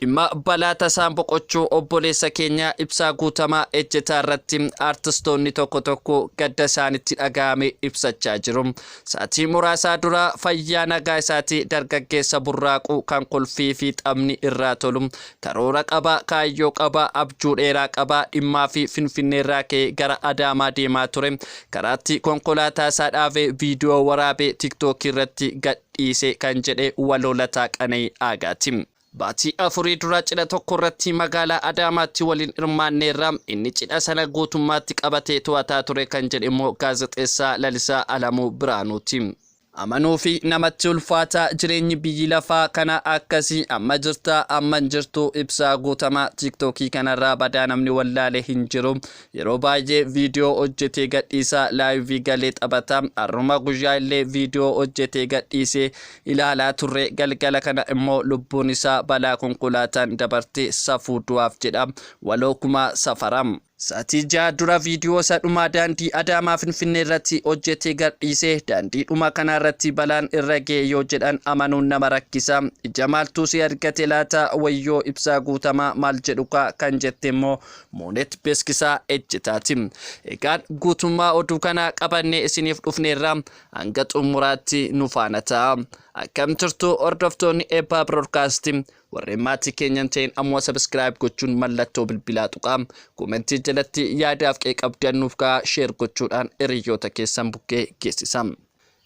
Dhimma balaa tasaan boqochuu obboleessa keenya Ibsaa Guutamaa Ejjetaa irratti artistoonni tokko tokko gadda isaanitti dhaga'ame ibsachaa jiru. Saatii muraasaa dura fayyaa nagaa isaatii dargaggeessa burraaqu kan kolfii fi taphni irraa tolu, karoora qaba, kaayyoo qaba, abjuu dheeraa qaba, dhimmaa fi Finfinnee irraa ka'ee gara Adaamaa deemaa ture, karaatti konkolaataa isaa dhaabee viidiyoo waraabee tiktookii irratti gad dhiise kan jedhe waloo Lataa Qana'ii Aagaati. Baatii afurii dura cidha tokkorratti magaalaa Adaamaatti waliin hirmaanneerra, inni cidha sana guutummaatti qabatee to'ataa ture kan jedhe immoo gaazexeessaa Lalisaa Alamuu Birhaanuuti. Amanuufi namatti ulfaata, jireenyi biyyi lafaa kana akkasi, amma jirta, amma hin jirtu, Ibsaa Guutamaa, TikTok kanarraa badaa namni wallaale hin jiru, Yeroo baay'ee viidiyoo hojjetee gadhiisa live galee taphata har'uma guyyaa illee viidiyoo hojjetee gadhiise ilaalaa turre galgala kana immoo lubbuun isaa balaa konkolaataan dabarte safuu du'aaf jedha waloo kumaa safara. Saatii ja'a dura viidiyoo isa dhumaa daandii Adaamaa Finfinnee irratti hojjetee gadhiise daandii dhuma kanaa irratti balaan irra ga'e yoo jedhan amanuun nama rakkisa ija maaltuu si argate laata wayyoo ibsaa guutamaa maal jedhukaa kan jette immoo Moonet Beeskisaa Ejjetaati. Egaan guutummaa oduu kanaa qabannee isiniif dhufneerra hanga xumuraatti nu faana ta'a. Akkam jirtu hordoftoonni eebbaa biroodkaasti warreen maatii keenyan ta'een ammoo sabiskiraayib gochuun mallattoo bilbilaa tuqaa koomentii jalatti yaadaaf qeeqabdan nuuf ka'a sheer gochuudhaan hiriyoota keessan bukkee geessisa.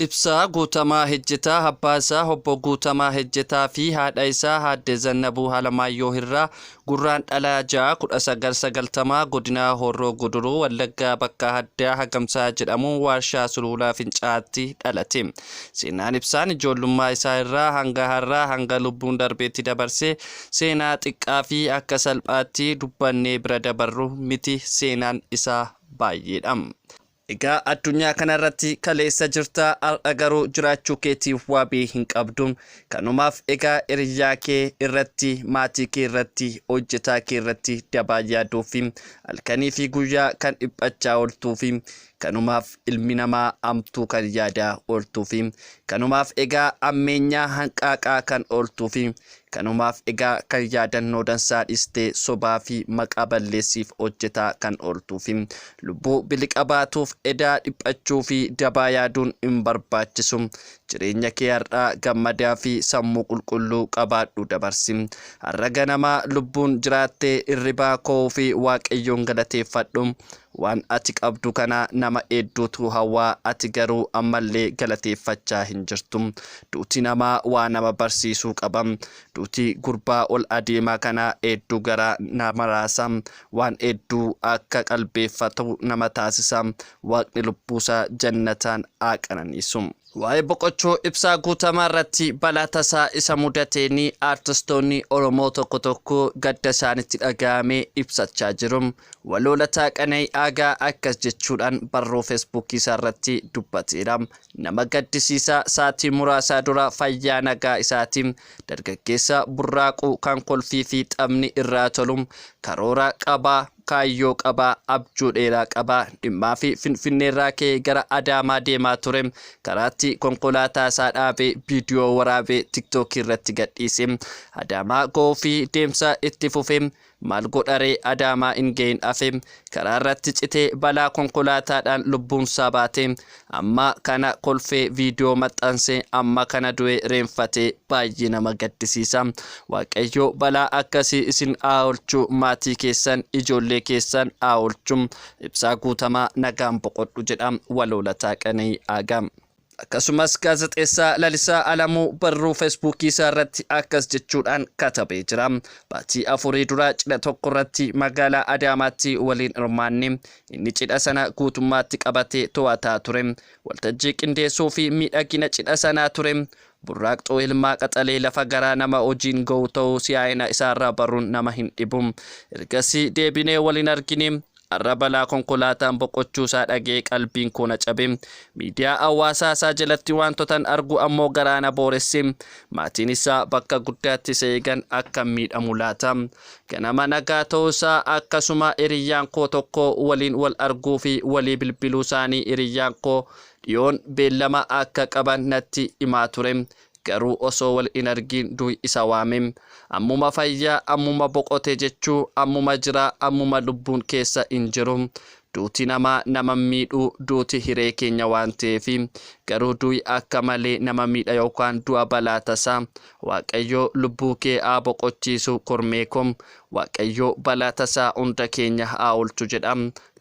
Ibsaa Guutamaa Hejjetaa abbaa isaa Obbo Guutamaa Hejjetaa fi haadha isaa Aadde Zannabuu Alamaayyoo Hirraa Gurraandhala 6, 1990 Godina Horroo Guduruu Wallaggaa bakka addaa Hagamsaa jedhamu waarshaa Suluulaa Fincaa'aatti dhalate. Seenaan Ibsaan ijoollummaa isaa irraa hanga har'aa hanga lubbuun darbeetti dabarse seenaa xiqqaa fi akka salphaatti dubbannee bira dabarru miti seenaan isaa baay'eedha. Egaa addunyaa kana irratti kaleessa jirta har'a garuu jiraachuu keetiif waabii hin qabdu. Kanumaaf egaa hiriyyaa kee irratti, maatii kee irratti, hojjetaa kee irratti dabaa yaaduufi halkanii fi guyyaa kan dhiphachaa ooltuufi kanumaaf ilmi namaa hamtuu kan yaadaa ooltuufi kanumaaf egaa hammeenyaa hanqaaqaa kan ooltuufi Kanumaaf egaa kan yaadannoo dansaa dhiistee sobaa fi maqaa balleessiif hojjetaa kan ooltuu fi lubbuu biliqa baatuuf edaa dhiphachuu fi dabaa yaaduun hin barbaachisu. Jireenya kee har'aa gammadaa fi sammuu qulqulluu qabaadhuu dabarsi. Har'a ganamaa lubbuun jiraattee hirribaa ko'uu fi Waaqayyoon galateeffadhu. Waan ati qabdu kana nama eedduutu hawwa, ati garuu ammallee galateeffachaa hin jirtu. Duuti namaa waa nama barsiisuu qaba. Duuti gurbaa ol adeemaa kanaa eedduu garaa nama raasa. Waan eedduu akka qalbeeffatu nama taasisa. Waaqni lubbuusaa jannataan haa qananiisu. Waa'ee boqochuu Ibsaa Guutamaa irratti balaa tasaa isa mudateen aartistoonni Oromoo tokko tokko gadda isaanitti dhaga'ame ibsachaa jiru. Waloo Lataa Qana'ii Aagaa akkas jechuudhaan barruu Feesbuukii isaa irratti dubbateera. Nama gaddisiisa saatii muraasaa dura fayyaa nagaa isaati. Dargaggeessa burraaqu kan kolfii fi taphni irraa tolu karoora qaba. kaayyoo qaba, abjuu dheeraa qaba. Dhimmaafi Finfinneerraa ka'ee gara Adaamaa deemaa ture. Karaatti konkolaataa isaa dhaabee viidiyoo waraabee tiktookii irratti gadhiise. Adaamaa ga'uufi deemsa itti fufe. Maal godharee Adaamaa hin ga'iin hafe. Karaa irratti citee balaa konkolaataadhaan lubbuunsaa baate. Amma kana kolfee viidiyoo maxxanse amma kana du'e reenfatee baay'ee nama gaddisiisa waaqayyoo balaa akkasii isin aawolchu maatii keessan ijoollee keessan aawolchu ibsaa guutamaa nagaan boqodhu jedha waloo lataa qana'ii aagaa. Akkasumas gaazexeessaa Lalisaa Alamuu barruu Feesbuukii isaa irratti akkas jechuudhaan katabee jira. Baatii afurii dura cidha tokko irratti magaalaa Adaamaatti waliin hirmaanne Inni cidha sana guutummaatti qabatee to'ataa ture. Waltajjii qindeessuu fi miidhagina cidha sanaa ture. Burraaqxuu ilmaa qaxalee lafa garaa nama hojiin ga'uu ta'uu si'aayina isaarraa baruun nama hin dhibu. Ergasii deebinee wal hin argine. Har'a balaa konkolaataan boqochuu isaa dhaga'ee qalbiin koo na cabe. Miidiyaa hawaasaa isaa jalatti waantotan argu ammoo garaa na booresse. Maatiin isaa bakka guddaatti isa eegan akkam miidhamu laata? Ganama nagaa ta'uusaa akkasuma hiriyyaan koo tokko waliin wal arguu fi walii bilbiluusaanii hiriyyaan koo dhiyoon beellama akka qaban natti himaa ture. Garuu osoo wal hin argiin du'i isa waame. Ammuma fayya, ammuma boqote jechuu, ammuma jira, ammuma lubbuun keessa hin jiru. Duuti namaa nama hin miidhu, duuti hiree keenya waan ta'eefi. Garuu du'i akka malee nama miidha yookaan du'a balaa tasaa, Waaqayyoo lubbuu kee haa boqochiisu kormee ko Waaqayyoo balaa tasaa hunda keenya haa oolchu jedha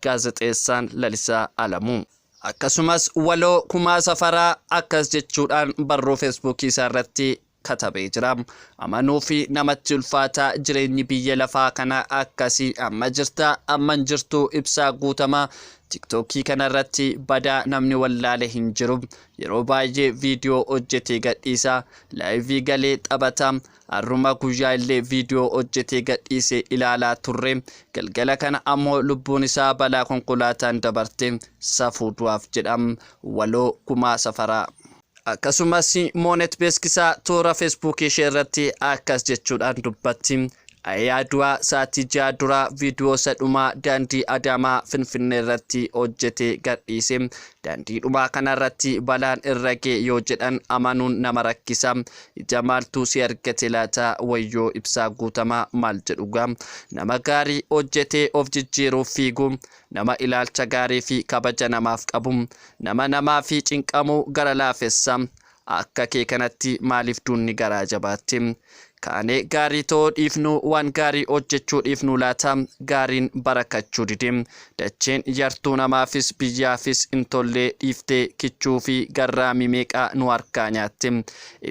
Gaazexeessaan Lalisaa Alamuu. Akkasumas waloo Kumaa Safaraa akkas jechuudhaan barruu Feesbuukii isaa irratti katabee jira. Amanuuf namatti ulfaata jireenyi biyya lafaa kana akkasi amma jirta amma hin jirtu Ibsaa Guutamaa Tiktookii kana irratti badaa namni wallaale hin jiru Yeroo baay'ee viidiyoo hojjetee gadhiisa, laayivii galee taphata. Har'uma guyyaa illee viidiyoo hojjetee gadhiise ilaalaa turre. Galgala kana ammoo lubbuun isaa balaa konkolaataan dabarte. Safuu du'aaf jedha. Waloo Kumaa Safaraa. Akkasumas Moonet Beeskisaa toora Feesbuukii ishee irratti akkas jechuudhaan dubbatti. Ayaa du'aa saatii ja'a dura viidiyoo isa dhumaa daandii Adaamaa Finfinnee irratti hojjetee gadhiise. Daandii dhumaa kanarratti balaan irra ga'e yoo jedhan amanuun nama rakkisa. Ija maaltu si argate laata? Wayyoo Ibsaa Guutamaa maal jedhugaa? Nama gaarii hojjetee of jijjiiruuf fiigu, nama ilaalcha gaarii fi kabaja namaaf qabu, nama namaaf cinqamu, gara laafessa, Akka kee kanatti maaliif duunni garaa jabaatte? Kaanee gaarii ta'uu dhiifnuu waan gaarii hojjechuu dhiifnuu laata? Gaariin barakachuu dide. Dacheen yartuu namaafis biyyaafis hin tolle dhiiftee kichuu fi garraamii meeqa nu harkaa nyaatte.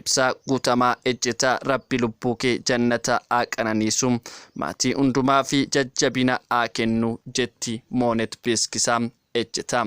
Ibsaa Guutamaa Ejjetaa Rabbi lubbuu kee jannata haa qananiisu. Maatii hundumaa fi jajjabina haa kennu jetti Moonet Beeskisaa Ejjetaa.